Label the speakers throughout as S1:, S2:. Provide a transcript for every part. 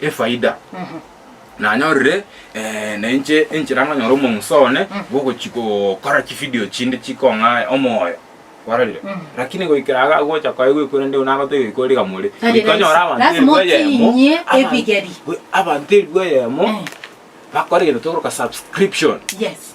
S1: efaida, nanyorire na inche enchera nkanyora omong'uso one bw'ogochia gokora chividio chinde chikong'aya omoyo, barorire? Lakini goikera iga agocha koyegwa eku rende eku nagoteba ebikorwa riga more, Tari goika onyore rahisi. abanto Lazima elfu eyemo, otinyie abanto-
S2: ebigeri. abanto elfu
S1: eyemo Eh. bakore egento tokoroka subscription. Yes.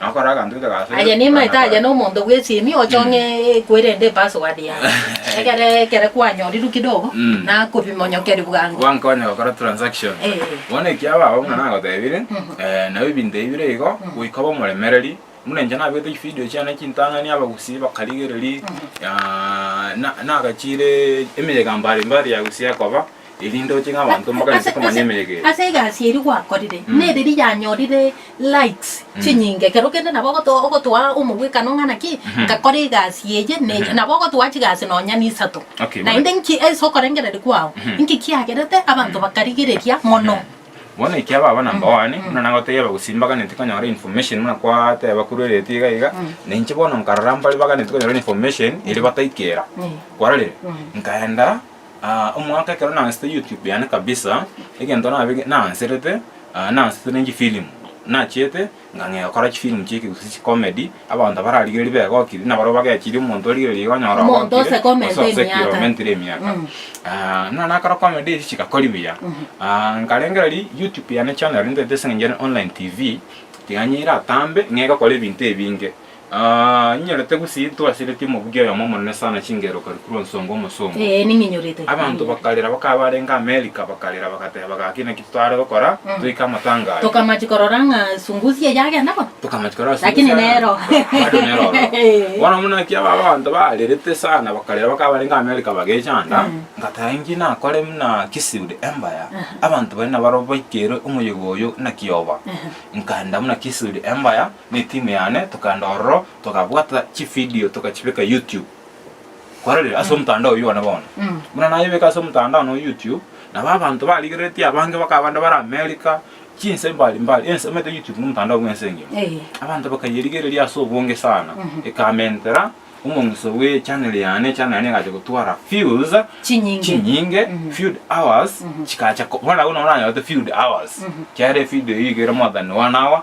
S1: Nakora aganto gete gase. Aye nimaete aye
S2: nomonto bw'esiimi ochong'e ekwerende epassword yaye. Egere ekere kwanyorirwe kidogo Mm. nakobimonyokeria bwango. Gwankonya gokora transaction.
S1: Eh. Bono ekiaba abwo buna nagotebire, eh, nabo ebinto ebi bire igo, goika obe omoremereri, buna inche nabete chivideo chiane chintang'ani abagusii bakarigereri, ah, na- nagachiire emiyega mbari mbari ya gusii ekoba. Erinde ochike abanto mokanse komanya emegera. Ase egasi eria
S2: gwakorire nereri yanyorire likes chinyinge ekero kende nabo ogoto ogotoa omogwekano ng'a naki ngakora egasi eye ne eye nabo ogotoa chigasi nonya nisato Okay, bono- naende nki ase okorengereria kwao nki kiagerete abanto bakarigereria mono. Bono ekia
S1: baba number one buna nagoteba gose mbaganeti konyora information buna kwateba korwa eredio iga iga na inche bono nkarora mbare baganeti konyora information ere bataikera kwarorire nkaenda Aa omwaka ekero naanserete YouTube yane kabisa, egento nabe naanserete, aa naansetete ne chifilm. Nachiete ng'ang'ea gokora chifilm chieke gose chicomedy, abanto bararigereria begokire, na barabwo bagechirie omonto origereria iga onyora Omonto ogokire, ose comment
S2: gose osekire emiaka. omentire emiaka. Mm.
S1: Aa naro nakora comedy echi chigakori buya. Aa nkarengereria YouTube yane channel ntaete ase eng'encho ere online TV, tiga niyo eratambe, nigo egokora ebinto ebinge. Aa, inyorete gusii ntwasiretie omobugia oyomo omonene sana chingero karikuru onsongo omosomba. Ee, ning'inyorete. Abanto
S2: bakarera
S1: bakaba barenge Amerika bakarera bagateba gaki naki totare gokora Mm. toike amatanga aye. Tokamachi korora ng'a
S2: sungusi eye agenda bo. Tokamachi korora sungusi Lakini aya.
S1: nero.
S2: Bado nero oro. Ee.
S1: Bono buna naki aba abanto barerete sana bakarera bakaba barenge Amerika bagechanda Mm. ngateba inki nakore buna Kisiud Empire Aha. abanto baria nabaro baikeirwe omoyega oyo naki oba Aha. nkaenda buna Kisiud Empire Netimu yane tokaenda ororo tokabwata chividio tokachibeka YouTube. Kwarorire ase omotandao oyio one bono. Buna nayebeka ase omotandao noyo YouTube, nabo abanto barigereretie abange bakaba bande bare America, chinse mbari mbari, ense omanyete YouTube nomotandao bwense engima. Abanto bakayerigereria ase obonge sana, ekamentera omong'iso bwe channel yane, echannel yane egachia gotwara views Chinyinge. chinyinge, viewed hours, chikacha ko, bono nabwo nonye oranyorete viewed hours, kiagera evidio eyio igere more than one hour,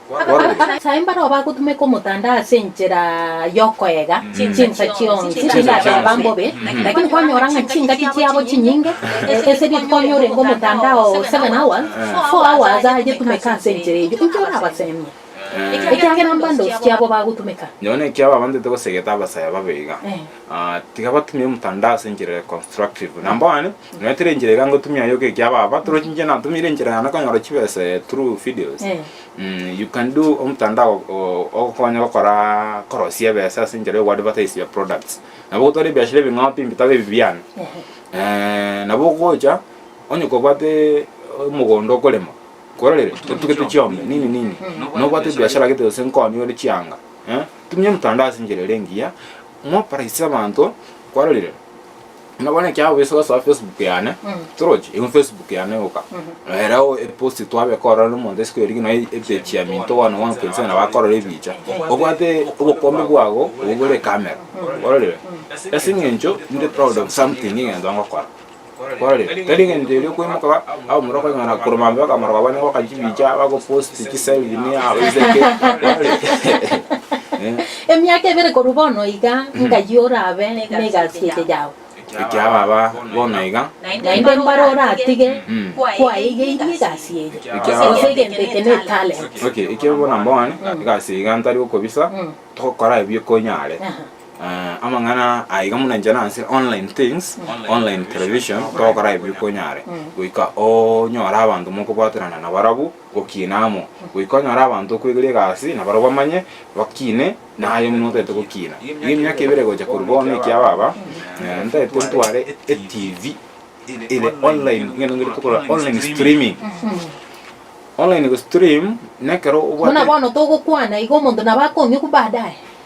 S1: Agachia imbare
S2: obo agotumeka omotanda ase enchera y'okoega chinsa chionsi chindateba mbobe, lakini kwanyora ng'a chingaki chiabo chinyinge, ese rituko onye orenge omotanda oo seven hours, four hours agetumeka ase enchera eyio, inki orabaseemie? Ekiagera mbande osiche abo bagotumeka. Nonya na ekiagera abanto
S1: togoseegete abasaya babe iga, Tiga batumie omotandao ase enchera eye constructive. Number one, nonya teri enchera iga ngotumia yoka ekia ababa torochinche natumire enchera yane konyora chibesa eh, through videos. Eh. Mh, you can do omotandao o- o- ogokonya gokora korosia ebesa ase enchera yo go advertise your products. Nabo ogotwara ebiashara ebing'aote mbitaba ebi biane. Eeh, nabo ogocha onye kobwate omogondo okorema, kwerorire? Otugete chiombe, nini nini. Nobwate ebiashara gete gose nkonyi ore chianga, Tumia emtandao ase enchera ere engiya, mwaparaisie abanto kwarorire buna bono ekiagera bweso gosoa facebook yane torochi egu facebook yane egoka ere epost twabeka ororo nomonto isiko eria gena epage ya minto one one point seven nabo akorora ebicha obwate obokombe bwago obwo bore ekamera ororire ase eng'encho ninde proud of something egento ngokora. Korende tari engencho eria okwemoka ba abo morua kweng'ana korwa maambia baka maroga bane goka chibicha bago post chi selfie ne abo iseke korende
S2: Emiaka ebere korwa bono iga ng'ayio orabe negasi eria yao. ekiagera baba
S1: bono iga Naende mbare
S2: oratige kwaegeirie egasi eye, Ekiagera. gose egento eke ne talent. Okay, ekio bono
S1: mbogani egasi iga ntari gokobisa togokora ebio konyare. Aha. Amang'ana aiga muna inche nase online things, online television togokora ebibe konyare goika onyore abanto mokobwaterana nabarabwo gokina amo, goika onyore abanto okwegeria egasi nabarabwo bamanye bakine naye buna otagete gokina. Iga emiaka ebere gocha korwa bono ekia baba ntagete ntware etv ere online ngende ngore tokorora online streaming. Online gostream nekero obwate. Buna bono
S2: togokwana iga omonto nabo akong'e baadaye.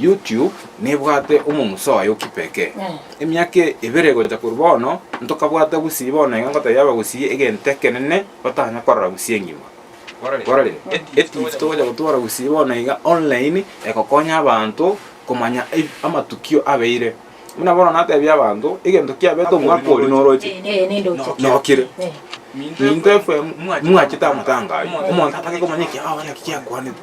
S1: YouTube nebwate omomusa oye o Kipeke. Emiaka ebere gocha korwa bono ntokabwata gusii bono iga ngotebia abagusii egento ekenene batanya korora gusii engima. Korere eTV togocha gotwara gusii bono iga online egokonya abanto komanya amatukio abeire. Buna bono natebia abanto egento kiabete omwaka oria noroche nokire. Minto FM mwachete amatanga ayio omonto atake komanya ekiagera ki kiakwanete.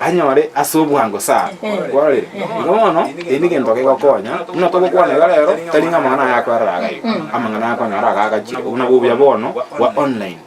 S1: anyore ase obwango sana. Kwarire, igo bono erio negento kegokonya, buna togokwana iga rero, tari ng'a amang'ana aya akoerera iga iga, amang'ana aya akonyora iga agachire, obwo nabwo obuya bono bwa online.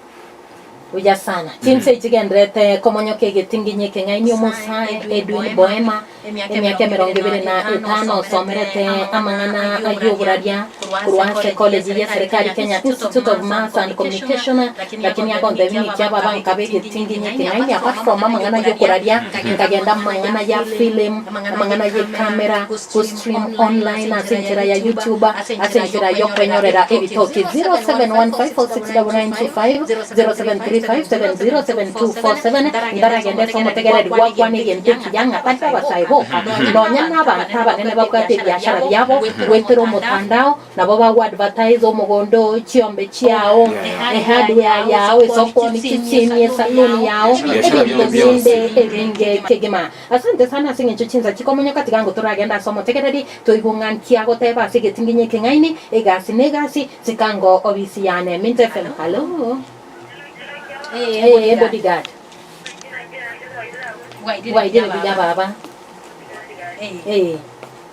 S1: Buya
S2: sana. Chinsa echi chigenderete komonyoka egetinginyi ekeng'aini Omosae Edwin Boemer, emiaka emerongo ebere na etano, osomerete amang'ana ay'oboraria korwa ase College y'eserekari Kenya Institute of Mass and Communication, Lakini akontebia ng'iti abo abankabe egetinginyi eke, naende akwancha kooma amang'ana y'okoraria, nkagenda amang'ana ya film, amang'ana ye camera, gostream online ase enchera ya YouTube, ase enchera y'okwenyorera ebitoki. 0715469925, 0735707247 Nkaragende ase omotegereri gwakwane egento ekiya, ng'atake abasae boka, nonya nabaanto abanene babwate ebiashara biabo, goetera omotandao, Nabo bagoadvertise omogondo oo, chiombe chiao, ehardware yao, esokoni, chisimi, esaluni yao, ebinto binde ebinge kegima. Asante sana ase eng'encho chinsa chikomonyoka. Tiga ango toragende ase omotegereri, toigwe ng'a nki agoteba ase egetinginyi ekeng'aini, egasi ne egasi. Sika ango ofisi yane. Mint FM. Hallo? Ee, bodyguard. Bwairire buya, baba? Ee.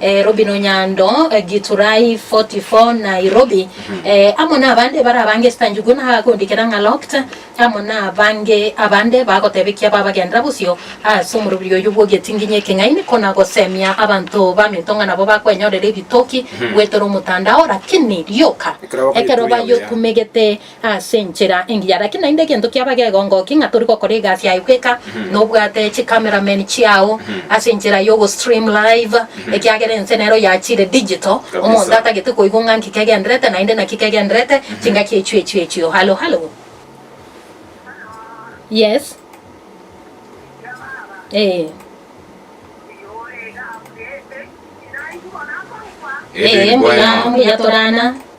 S2: Nairobi Nonyando, Giturai 44 Nairobi, amo nabande barabange echitanchigwe na agakondikera ng'a locked, amo nabange abande bagotebekia babagenera bosio ase omoroberio oyio bw'ogetinginyi ekeng'aini konagosemia abanto baminto ng'a nabo bakwenyorera ebitoki goetera omotandao, lakini rioka ekero bayokumegete Ase enchera engiya, naki naende egento kiaba gegongokia ng'a tori gokora egasi yaye bweka, nobwate chicameramen chiao ase enchera y'ogostream live, ekiagera ense nero yachire digital, omonto atagete koigwa ng'a nki kegenderete naende naki kegenderete, chingaki echio echio echio. Hallo, hallo? Yes? Ee. Ee, mbuya, mbuya torana.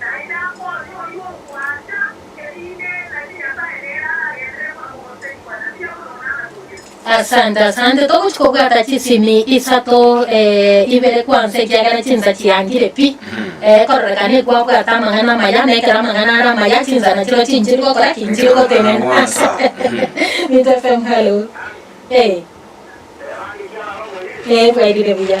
S2: Naende amo oria oyio ogwancha, erinde tari Nyasae nere aragenderere buna omogoseri bwa Nabii Abulono agatogire. Asante asante togochi kobwata chisimi isato eh, ibere kwansa ekiagera chinsa chiangire pi eh, ekororekana ekwabwata amang'ana amaya na ekero amang'ana are amaya chinsa nachiro chinchiri gokora ki nchiri gotenena asante Mito FM hello eh Erange kiarara omoyee. eh bwairire buya.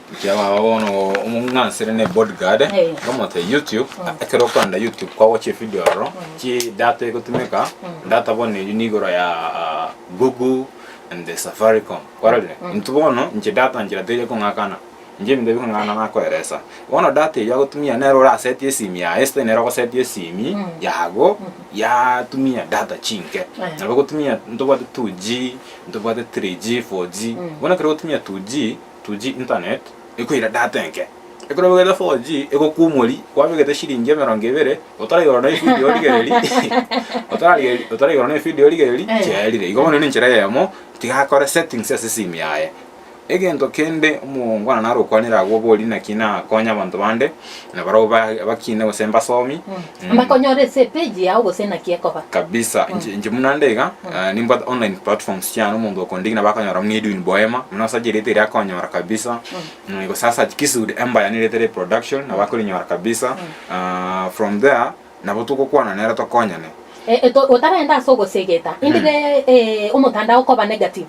S2: Inche baba bono
S1: omong'ansire ne bodyguard ngomote YouTube ekero okorenda YouTube kwagocha evideo ororo chi data egotumeka data bono eyio ni igoro ya ah, Google and the Safaricom kwarorire intwe bono inche data nchera teri ekong'akana inche ebinto bikong'akana nakoeresa bono data eyio agotumia nere oraseti esimi yaye instead nere ogoseti esimi yago yatumia data chinke nabo ogotumia ntobwate 2G ntobwate 3G 4G bono ekero ogotumia 2G 2G internet ekoira data enke ekero obegete 4G egokwa omori kwabegete shilingi emerongo ebere otaraigoro na efidio origereri otaraigoro na efidio origereri chiaerire igo bono nenchera eyemo tiga akore settings ase esimi yaye egento kende omongwana naro okwanera agwo obori naki nakonya abanto bande. na barabwo ba- bakine gose mbasomi Mm. Bakonyora ase
S2: epeji yao gose naki ekoba. kabisa inche inche
S1: buna nde iga eh, nimbwate online platforms chiane omonto okondiki nabo akanyora buna edwin boema buna osache erieta eria akonyora kabisa Mm, gose asache kisude embaya nerieta ria production nabo akorinyora kabisa Ah, from there nabo togokwana nere tokonyane.
S2: Otarenda ase ogosegeta, indire omotandao koba negative,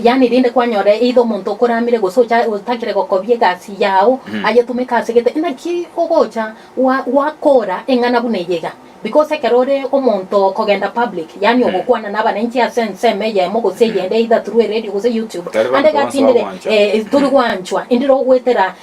S2: yaani rinde kwanyora either omonto okoramire gose otagire gokobia egasi yao ayetumeke ase gete, naki ogocha gwakora eng'ana buna eye iga? Because ekero ore omonto okogenda public, yaani ogokwana nabananchi ase ensemo eyemo gose eyende either through eredio gose YouTube, ande iga tindire tori gwanchwa, indire ogoetera.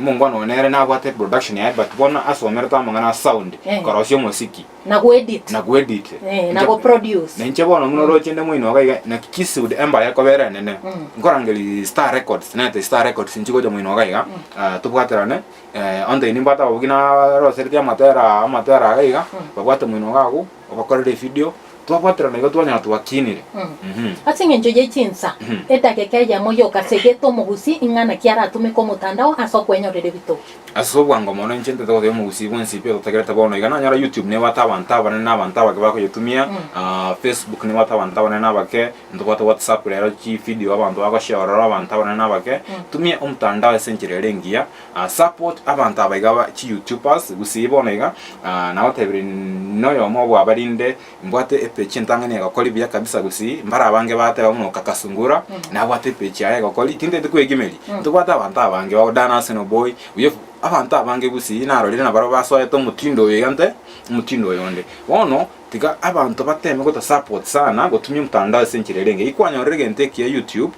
S1: Omongwana oyo nere nabwate production yaye but bono asomerete amang'ana a sound, Eh. korosia omosiki, Na goedit. na
S2: goedit. Eh,
S1: na goproduce.
S2: Na inche bono buna roche
S1: nde moino iga iga naki kisude empire ekobera enene. Mm. Nkorangeria Star Records, nete Star Records inche gocha moino iga iga, eh, tobwaterane, eh, onde nimbwate ababwo buna barosereti amatera amatera iga iga, babwate moino iga agwo, Ogokorera efidio twabwaterana igo twanyora twakinire. Mh. Ase engencho
S2: ye chinsa, edageka eyemo yoka segete omogusi ing'ana ki aratumeke omotandao ase okwenyorera ebitoki. Ase obwango mono
S1: inche ntete gotebia omogusi bwensi pi ototagerete bono iga nanyora YouTube nebwate abanto abanene na abanto abake bakoyetumia, ah, Facebook nebwate abanto abanene na abake, ntobwate WhatsApp rero chifidio abanto bagochiorora abanto abanene na abake, tumia omotandao ase enchera ere engiya, Support abanto aba iga ba chi youtubers gusii bono iga aah nagotebire noyomo obo abarinde mbwate epage entang'ani egokori buya kabisa gusii mbare abange bagateba buna oka kasungura nabwate epage yaye egokori tinteti kwegimeri ntobwate abanto abange bago Dan Arsenal boy buya abanto abange gusii narorire nabaro basoete omotindo oyo iga nte omotindo oyo onde bono tiga abanto bateme goto support sana gotumia omtandao ase enchera erenge eyi kwanyorire egento ekiya youtube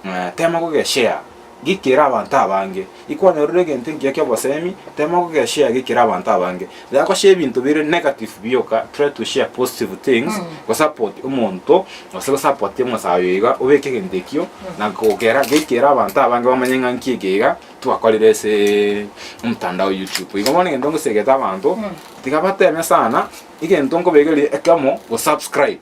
S1: aah tema goge share. Gikera abanto abange. Ikwanyorire egento ekiya ki'obosemi, tema kogeshare gikera abanto abange. Rera goshare ebinto bire negative bioka, try to share positive things, gosupport omonto gose gosupport omosae oyo iga obeke egento ekio na gokera gikera abanto abange bamanye ng'a nki eke iga twakorire ase omotandao o YouTube. Igo bono egento ngosegete abanto tiga bateme sana egento nkobegerie ekemo gosubscribe.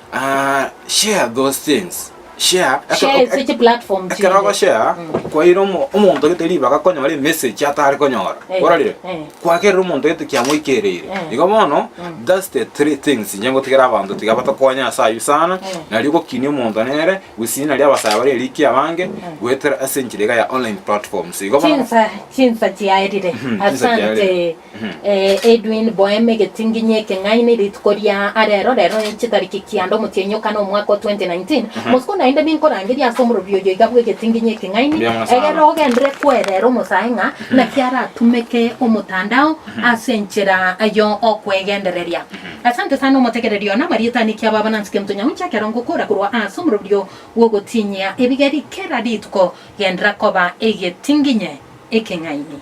S1: Share those things, share Share ase ekero chiplatform
S2: chinde. ekero ogoshare
S1: kwaire omo- omonto gete ribaga konyora emessage atare konyora Eh, ororire eh. kwakerire omonto gete kiamoikereire Eh. igo bono thats the three things inche ngotigera abanto tiga batokonye ase aywo sana Eh. nario gokinia omonto nere gusii naria abasaya bare eriki abange goetera ase enchera iga ya online platforms igo bono Chinsa chinsa
S2: chiaerire. chinsa chiaerire. Asante. Edwin Boehm, Egetinginyi ekeng'aini, rituko ria arero, rero chitariki kianda, omotienyi o kana, omwaka o 2019. Botuko naende ninkorangeria ase omorobi oyo iga bw'egetinginyi ekeng'aini, egere ogenderere kwerera omosae ng'a naki aratumeke omotandao ase enchera yo okwegendereria. Asante sana omotegereri one, amarieta ane kiabo abana nse kento nyauncha ekero ngokora korwa ase omorobi oo bw'ogotinyia ebigeri kera rituko, gendera koba egetinginyi ekeng'aini.